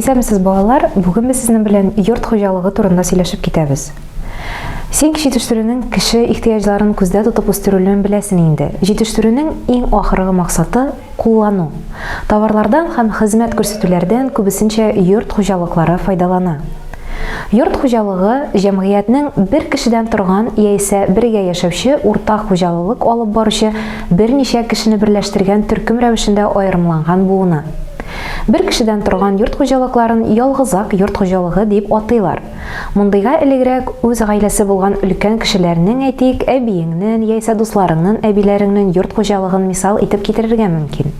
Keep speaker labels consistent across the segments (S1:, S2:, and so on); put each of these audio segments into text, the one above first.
S1: Исәнмесез, балалар! Бүген без сезнең белән йорт хуҗалыгы турында сөйләшеп китәбез. Син җитештерүнең кеше ихтыяҗларын күздә тотып үстерелүен беләсең инде. Җитештерүнең иң ахыргы максаты, куллану. Товарлардан һәм хезмәт күрсәтүләрдән күбесенчә йорт хуҗалыклары файдалана. Йорт хуҗалыгы, җәмгыятьнең бер кешедән торган яисә бергә яшәүче уртак хуҗалылык алып баручы берничә кешене берләштергән төркем рәвешендә аерымланган буыны. Бер кешедән торган йорт хуҗалыкларын ялгызак йорт хуҗалыгы дип атыйлар. Мондыйга элегрәк үз гаиләсе булган өлкән кешеләрнең, әйтик, әбиеңнен яисә дусларыңнын әбиләреңнен йорт хуҗалыгын мисал итеп китерергә мөмкин.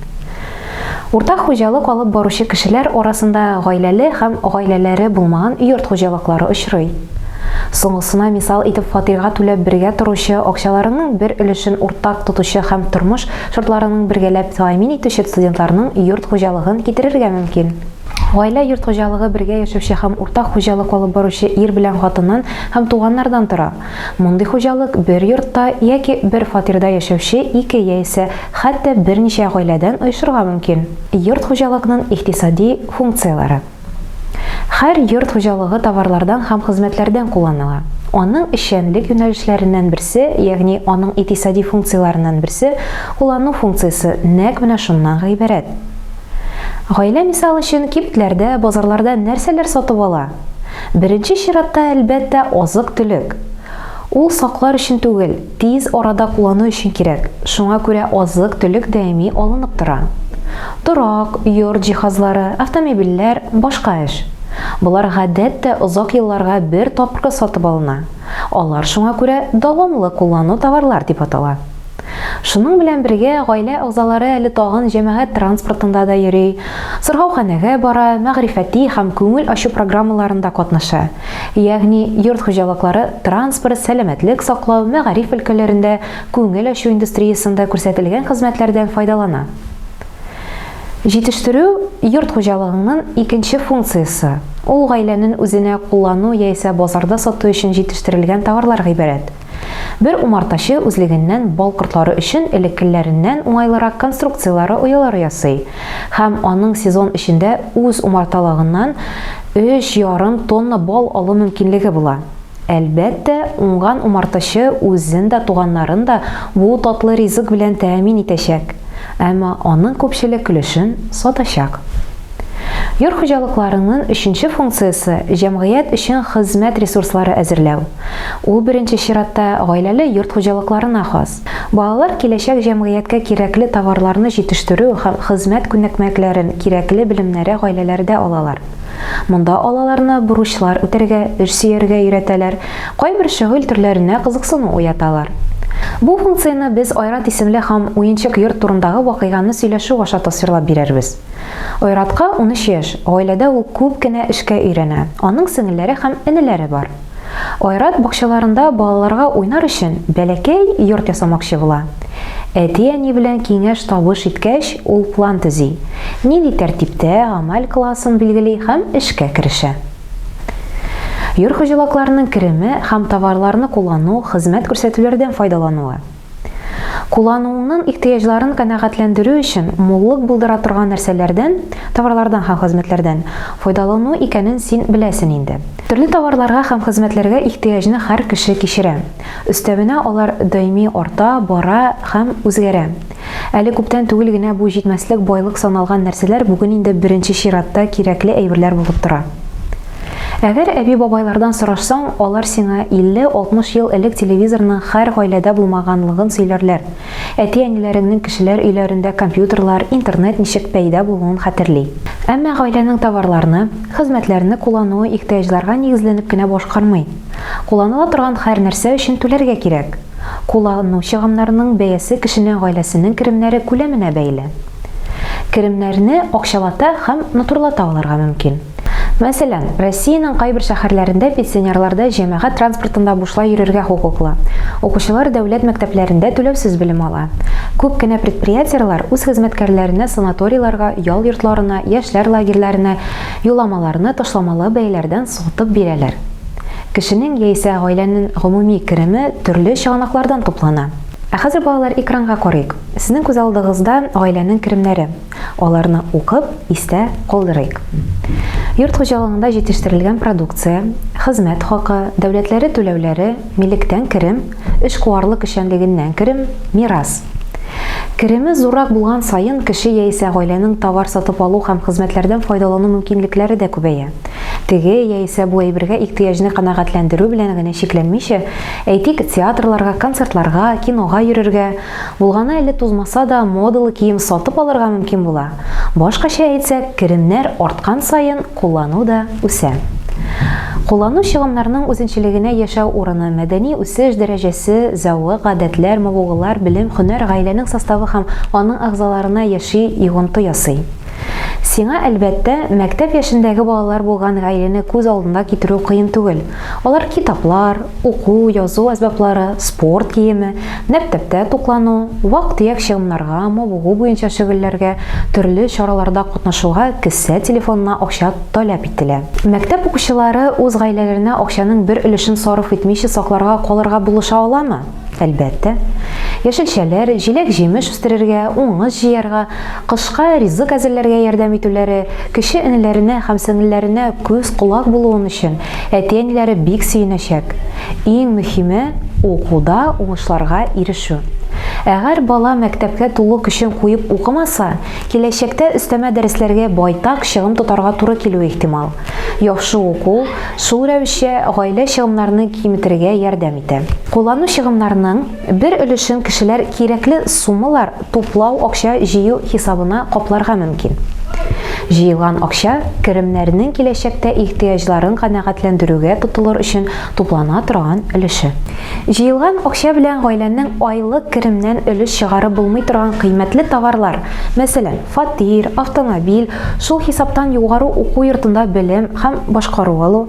S1: Уртак хуҗалык алып баручы кешеләр арасында гаиләле һәм гаиләләре булмаган йорт хуҗалыклары очрый. Соңгысына мисал итеп фатирга түләп бергә торучы, акчаларының бер өлешен уртак тотучы һәм тормыш Шартларының бергәләп тәэмин итүче студентларның йорт хуҗалыгын китерергә мөмкин. Гаилә йорт хуҗалыгы бергә яшәүче һәм уртак хуҗалык алып баручы ир белән хатыннан һәм туганнардан тора. Мондый хуҗалык бер йортта яки бер фатирда яшәүче ике яисә хәтта берничә гаиләдән оешырга мөмкин. Йорт хуҗалыкның икътисади функцияләре. Хәр йорт хуҗалыгы товарлардан һәм хезмәтләрдән кулланыла. Аның эшчәнлек юнәлешләреннән берсе, ягъни аның икътисади функцияләреннән берсе, куллану функциясе нәкъ менә шуннан гыйбарәт. Гаилә мисал өчен кибетләрдә, базарларда нәрсәләр сатып ала? Беренче чиратта, әлбәттә, азык-төлек. Ул саклар өчен түгел, Тиз арада куллану өчен кирәк, шуңа күрә азык-төлек даими алынып тора. Торак, йорт җиһазлары, автомобильләр, башка эш. Болар гадәттә озак елларга бер тапкыр сатып алына, алар шуңа күрә дәвамлы куллану товарлар дип атала. Шуның белән бергә гаилә әгъзалары әле тагын җәмәгать транспортында да йөри, сырхауханәгә бара, мәгърифәти һәм күңел ачу программаларында катнаша, Ягъни, йорт хуҗалыклары, транспорт, сәламәтлек саклау, мәгариф өлкәләрендә, күңел ачу индустриясендә күрсәтелгән хезмәтләрдән файдалана. Җитештерү, йорт хуҗалыгыңнын икенче функциясе, ул гаиләнен үзенә куллану яисә базарда сату өчен җитештерелгән товарлар гыйбарәт. Бер умартачы үзлегеннән бал кортлары өчен элеккеләреннән уңайлырак конструкцияләре оялары ясый һәм аның сезон эчендә үз умарталыгыннан өч ярым тонна бал алу мөмкинлеге була. Әлбәттә, уңган умартачы үзен дә, туганнарын да бу татлы ризык белән тәэмин итәчәк, әмма аның күпчелек өлешен сатачак. Йорт хуҗалыкларының өченче функциясе, җәмгыять өчен хезмәт ресурслары әзерләү. Ул беренче чиратта гаиләле йорт хуҗалыкларына хас. Балалар киләчәк җәмгыятькә кирәкле товарларны җитештерү һәм хезмәт күнекмәкләрен, кирәкле белемнәре гаиләләрдә алалар. Монда алаларны бурычлар үтәргә, эш сөяргә өйрәтәләр, кайбер шөгыль төрләренә кызыксыну уяталар. Бу функцияне без Айрат исемле һәм уенчык йорт турындагы вакыйганы сөйләшү аша тасвирлап бирербез. Айратка унөч яшь, гаиләдә ул күп кенә эшкә өйрәнә, аның сеңелләре һәм энеләре бар. Айрат бакчаларында балаларга уйнар өчен бәләкәй йорт ясамакчы була. Әти-әни белән киңәш-табыш иткәч, ул план төзи, нинди тәртиптә гамәл кыласын билгели һәм эшкә керешә. Йорт хуҗалакларының кереме һәм товарларны куллану, хезмәт күрсәтүләрдән файдалануы. Куллануыңнын ихтыяҗларын канәгатьләндерү өчен муллык булдыра торган нәрсәләрдән, товарлардан һәм хезмәтләрдән, файдалану икәнен син беләсен инде. Төрле товарларга һәм хезмәтләргә ихтыяҗны хәр кеше кичерә. Өстәвенә алар даими арта, бара һәм үзгәрә. Әле күптән түгел генә бу җитмәслек байлык саналган нәрсәләр бүген инде беренче чиратта кирәкле әйберләр булып тора. Әгәр әби-бабайлардан сорашсаң, алар сиңа 50-60 ел элек телевизорның хәр гаиләдә булмаганлыгын сөйләрләр. Әти-әниләреңнең кешеләр өйләрендә компьютерлар, интернет ничек пәйда булуын хәтерли. Әмма гаиләнең товарларны, хезмәтләрне куллануы ихтыяҗларга нигезләнеп кенә башкармый. Кулланыла торган хәр нәрсә өчен түләргә кирәк. Куллану чыгымнарының бәясе кешенең гаиләсенең керемнәре күләменә бәйле. Керемнәрне акчалата һәм натурлата алырга мөмкин. Мәсәлән, Россиянең кайбер шәһәрләрендә пенсионерларда җәмәгать транспортында бушлай йөрергә хокуклы, укучылар дәүләт мәктәпләрендә түләүсез белем ала. Күп кенә предприятиеләр үз хезмәткәрләренә санаторийларга, ял йортларына, яшьләр лагерьләренә юлламаларны ташламалы бәяләрдән сатып бирәләр. Кешенең яисә гаиләнен гомуми кереме төрле чыганаклардан туплана. Ә хәзер, балалар, экранга карыйк. Сезнең күз алдыгызда гаиләнең керемнәре. Аларны укып, истә калдырыйк. Йорт хуҗалыгында җитештерелгән продукция, хезмәт хакы, дәүләтләре түләүләре, милектән керем, эшкуарлык эшчәнлегеннән керем, мирас. Кереме зуррак булган саен, кеше яисә гаиләнең товар сатып алу һәм хезмәтләрдән файдалану мөмкинлекләре дә күбәя. Теге яисә бу әйбергә ихтыяҗны канәгатьләндерү белән генә чикләнмичә, әйтик, театрларга, концертларга, кинога йөрергә, Булганы әле тузмаса да, модалы кием сатып алырга мөмкин була. Башкача әйтсәк, керемнәр арткан саен куллану да үсә. Куллану чыгымнарының үзенчәлегенә яшәү урыны, мәдәни үсеш дәрәҗәсе, зәвык, гадәтләр, мавыгулар, белем, һөнәр, гаиләнең составы һәм аның әгъзаларына яши йогынты ясый. Сиңа, әлбәттә, мәктәп яшендәге балалар булган гаиләне күз алдына китерү кыен түгел. Алар китаплар, уку, язу әсбаплары, спорт киеме, мәктәптә туклану, вак-төяк чыгымнарга, мавыгу буенча шөгыльләргә, төрле чараларда катнашуга кесә телефонына акча таләп ителә. Мәктәп укучылары үз гаиләләренә акчаның бер өлешен сарыф итмичә сакларга калырга булыша аламы? Әлбәттә, яшелчәләр, җиләк-җимеш үстерергә, уңыш җыярга, кышка ризык әзерләргә ярдәм итүләре, кече энеләренә һәм сеңелләренә күз-колак булуын өчен әти-әниләре бик сөенәчәк. Иң мөһиме, укуда уңышларга ирешү. Әгәр бала мәктәпкә тулы көчен куеп укымаса, киләчәктә өстәмә дәресләргә байтак чыгым тотарга туры килүе ихтимал. Яхшы уку, шул рәвешчә гаилә чыгымнарны киметергә ярдәм итә. Куллану чыгымнарының бер өлешен кешеләр кирәкле суммалар туплау акча җыю хисабына капларга мөмкин. Җыелган акча керемнәрнең киләчәктә ихтыяҗларын канәгатьләндерүгә тотылыр өчен туплана торган өлеше. Җыелган акча белән гаиләнең айлык керемнән өлеш чыгарып булмый торган кыйммәтле товарлар, мәсәлән, фатир, автомобиль, шул хисаптан югары уку йортында белем һәм башкару алу,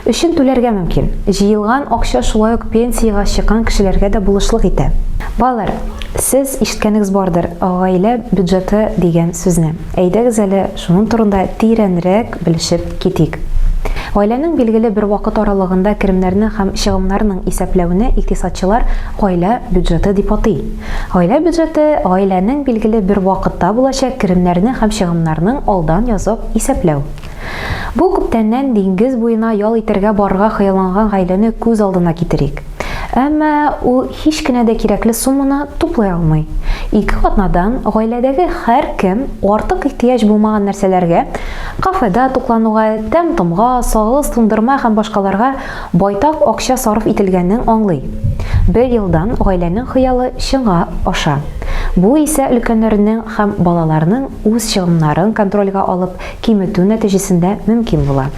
S1: өчен түләргә мөмкин. Җыелган акча шулай ук пенсиягә чыккан кешеләргә дә булышлык итә. Балалар, сез ишеткәнегез бардыр гаилә бюджеты дигән сүзне. Әйдәгез әле шуның турында тирәнрәк белешеп китик. Гаиләнең билгеле бер вакыт аралыгында керемнәрне һәм чыгымнарның исәпләүне икътисадчылар гаилә бюджеты дип атый. Гаилә бюджеты, гаиләнең билгеле бер вакытта булачак керемнәрне һәм чыгымнарның алдан язып исәпләү. Бу күптәннән диңгез буена ял итәргә барырга хыялланган гаиләне күз алдына китерик. Әмма ул һич кенә дә кирәкле сумманы туплый алмый. Ике атнадан гаиләдәге һәркем артык ихтыяҗ булмаган нәрсәләргә, кафеда туклануга, тәм-томга, сагыз туңдырма һәм башкаларга Байтак акча сарыф ителгәнен аңлый. Бер елдан гаиләнең хыялы чынга аша. Бу исә өлкәннәрнең һәм балаларның үз чыгымнарын контрольгә алып киметү нәтиҗәсендә мөмкин була.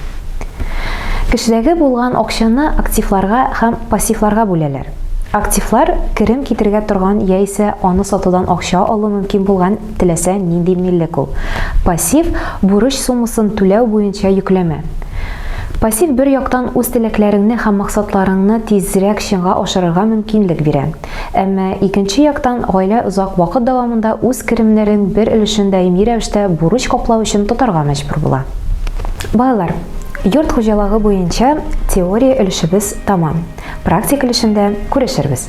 S1: Кешедәге булган акчаны активларга һәм пассивларга бүләләр. Активлар, керем китерергә торган яисә аны сатудан акча алу мөмкин булган Теләсә нинди милек ул. Пассив, бурыч суммасын түләү буенча йөкләмә. Пассив бер яктан үз теләкләреңне һәм максатларыңны тизрәк чынга ашырырга мөмкинлек бирә. Әмма икенче яктан гаилә озак вакыт дәвамында үз керемнәрен бер өлешен даими рәвештә бурыч каплау өчен тотарга мәҗбүр була. Балалар, йорт хуҗалыгы буенча теория өлешебез тәмам. Практик өлешендә күрешербез.